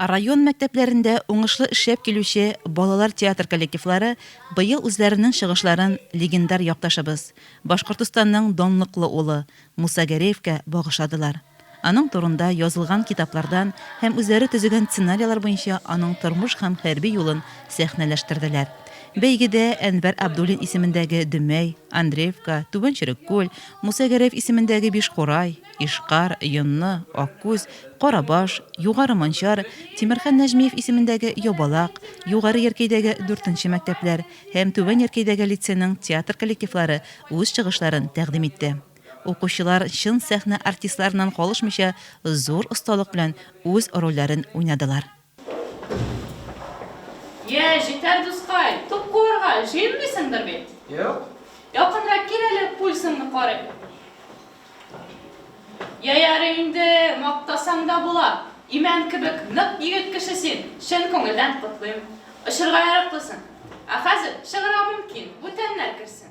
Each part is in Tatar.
Район мәктәпләрендә уңышлы эшләп килүче балалар театр коллективлары быел үзләренең чыгышларын легендар якташыбыз, Башкортостанның данлыклы улы Муса Гәрәевкә багышладылар. Аның турында язылган китаплардан һәм үзләре төзегән сценарияләр буенча аның тормыш һәм хәрби юлын сәхнәләштерделәр. Бәйгедә Әнвәр Абдуллин исемендәге Дөмәй, Андреевка, Түбән Череккүл, Муса Гәрәев исемендәге Бишкурай, Ишкар, Йонны, Аккүз, Карабаш, Югары Манчар, Тимерхан Нәҗмиев исемендәге Ябалак, Югары Яркәйдәге дүртенче мәктәпләр һәм Түбән Яркәйдәге лицейның театр коллективлары үз чыгышларын тәкъдим итте. Укучылар чын сәхнә артистларыннан калышмыйча зур осталык белән үз рольләрен уйнадылар. Йә, җитәр, дускай, туп куарга җыенмыйсыңдыр бит? Юк. Якынрак кил әле, пульсыңны карыйм. Йә, ярый инде, мактасаң да була. Имән кебек нык егет кеше син, чын күңелдән котлыйм. Очырга яраклысың. Ә хәзер чыгарга мөмкин, бүтәннәр керсен.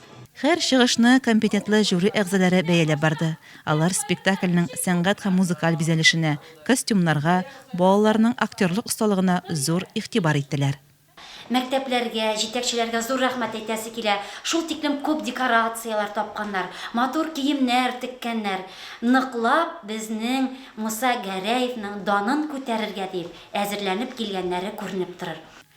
Һәр чыгышны компетентлы жюри әгъзаләре бәяләп барды. Алар спектакльнең сәнгать һәм музыкаль бизәлешенә, костюмнарга, балаларның актерлык осталыгына зур игътибар иттеләр. Мәктәпләргә, җитәкчеләргә зур рәхмәт әйтәсе килә, шул тиклем күп декорацияләр тапканнар, матур киемнәр теккәннәр, ныклап безнең Муса Гәрәевның данын күтәрергә диеп әзерләнеп килгәннәре күренеп торыр.